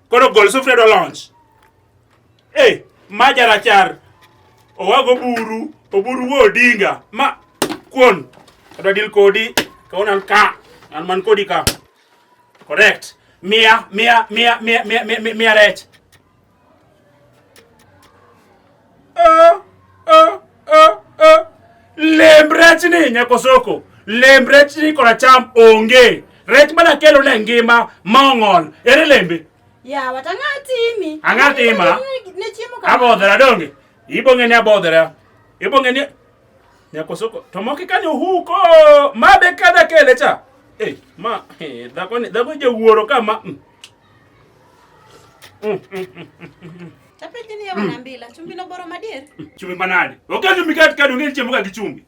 Koro gol sufria do launch. Eh, ma jarachar. Owago buru, oburu wo odinga. Ma kuon. Adwa deal kodi. Kaona ka. An man kodi ka. Correct. Mia, mia, mia, mia, mia, mia, mia rech. Lemb rech ni nyakosoko, lemb rech ni kora cham onge. Rech mana kelo ne ngima ma ong'ol. Ere lembe? Yawa to ang'a timi? Ang'a tima? Ne chiemo kama. Abodhera donge? Ibong'e ni abodhera. Ibong'e ni nyakosoko. To moki kanyo huko. Ma be kada kele cha. Eh, ma eh, dhako ni dhako jawuoro kama. Mm. Tapejini ya wanambila chumbi no boro madier. Chumbi manade. Okay chumbi kati kadi ungeni chemuka kichumbi.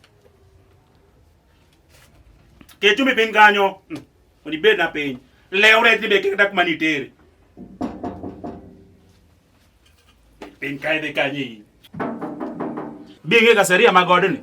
Ke chumbi piny kanyo. Oni bed na piny. Leo re tibe kata kuma nitere. Piny kae de kanyi. Binge kaseria magodni.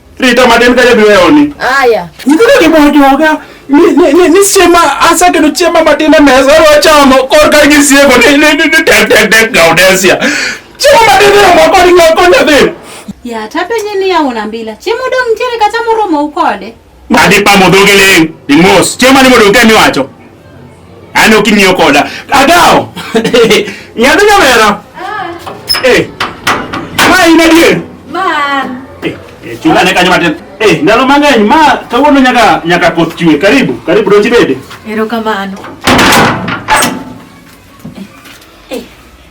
Rita matin ka jabiro eoni. Aya. Nyithindo gi bojoga. Ni siema asa kendo chiema matin e mesa wachamo korka gi siego ni ni ni ni tek tek tek gaudesia. Chiemo matin e moko ni ng'ako nyathi. Ya tapenye ni ya una mbila. Chiemo dong ntiere kata moromo ukode. Madi pamo dhogi ling. Dimos. Chiemo ni modong kemi wacho. Yaani ukimnyo koda. Adao. Nyabe nyamera. Ah. Eh. Ma ina die. Ma. Eh, eh chula ne kanyama tena. Eh, ndalo mang'eny ma kawuono nyaka nyaka koth chwe. Karibu, karibu donji bede. Erokamano.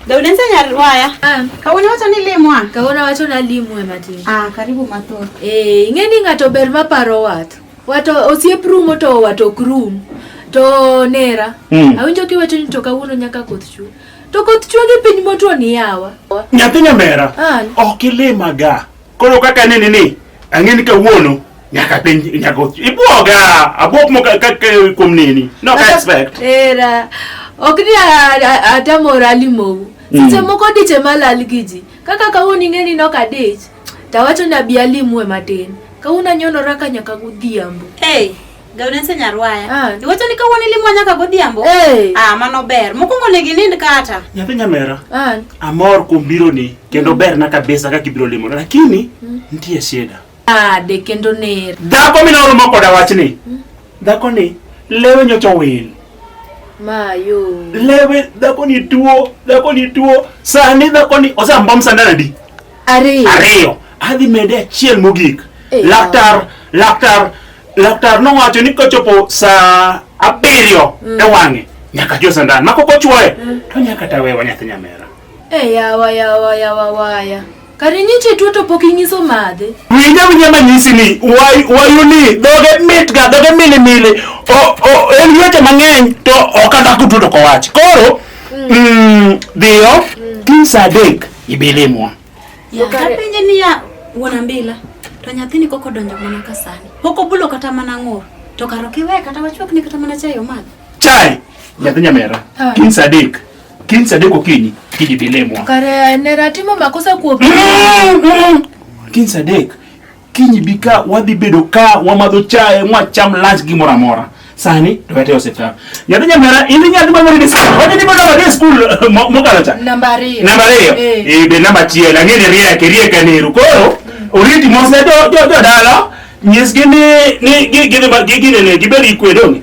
Daudense Nyarwaya. Ah. Kawuono wacho ni limwa. Kawuono wacho na limwe matin. Ah, karibu mathoth. Eh, ing'e ni ng'ato ber ma paro wat. Wato osiep rumo to wato ok rum. To nera, mm. awinjo kiwacho ni to kawuono nyaka koth chwe. To koth chwe gi piny motwo ni yawa. Nyathi nyamera. Ok ilimaga. Koro kaka nini ni ang'eni kawuono nyaka piny nyaka ibwoga abwok mo kaka kuom nini. No respect. Era. Ok ni atamora limowu. Mm. Seche moko diche malal gi ji. Kaka kawuono ing'eni nok adich. To awacho ni abi alimue matin. Kawuono anyonora ka nyaka godhiambo. Hey, Gaunense Nyarwaya. Ah. Iwacho ni kawuono ilimua nyaka godhiambo? Hey. Ah, mano ber. Mokwongo ne ginind kata. Nyathi nyamera, Ah, amor kuom bironi kendo berna kabisa kaka ibiro limona, lakini nitie shida. ade kendo ner. Dhako mina oromo koda wachni. Dhakoni lewe nyocha owil. Mayo. Lewe dhakoni tuo, dhakoni tuo. Sani dhakoni osambom sandanadi. Ariyo. Ariyo. Adhi mede achiel mogik. Eyo. Laktar, laktar, laktar nowacho ni kochopo saa abiriyo mm. e wang'e nyaka jo sandan mako kochwoye mm. to nyaka tawewa nyathi nyamera. E yawa yawa yawa waya. Kare nyiche tuo to pok inyiso madhe. Winja winja manyisi ni wayu ni doge mit ga doge mili mili. O o en yote mang'eny to okadako tuo to kowach. Koro mm. Mm, dhiyo mm. kiny saa adek Ibilimwa. Ya, kapenje ni ya wuon Mbila to nyathini koko donjo mana ka sani. Pok obulo kata mana ng'ur. To karo kiwe kata wachwak ni kata mana chai omadh. Chai. Nyathi nyamera. Ah. Kin Sadik. Kin Sadik okinyi. Kiji bilimwa. Kare ne ratimo makosa kuopi. Kin Sadik. kiny bi ka wadhi bedo ka wamadho chae mwacham lunch gi moro amora sani to wete osiptal nyathi nyamera in nyathi ma moro diskul wete ni moro wete skul mokalo cha namba ariyo namba ariyo eh. eh be namba chiel ang'e ni riek riek aneru koro mm. oriti mose jo jo dala nyisgi ni ni gidhi gidhi ne gibedi kwedoni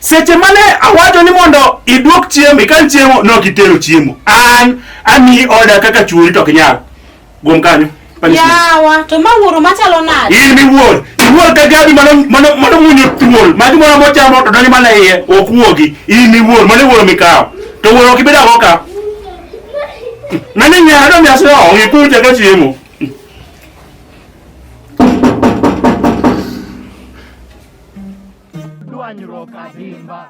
Seche mane awacho ni mondo idwok chiemo, ikan chiemo, nok itero chiemo. An amiyi order kaka chuori to ok nyal. Guom kanyo. punishment. Yawa, to ma wuoro machalo nade? In miwuor. Iwuor ka gabi mano mano mano munyo thuol. Magi moro mochamo to donjo mana iye, ok wuogi. In miwuor, mano wuoro mikawo. To wuoro ok ibed ago ka. Nani nyaro mi asiro, ngikunja ka chiemo. Dwanyruok adimba.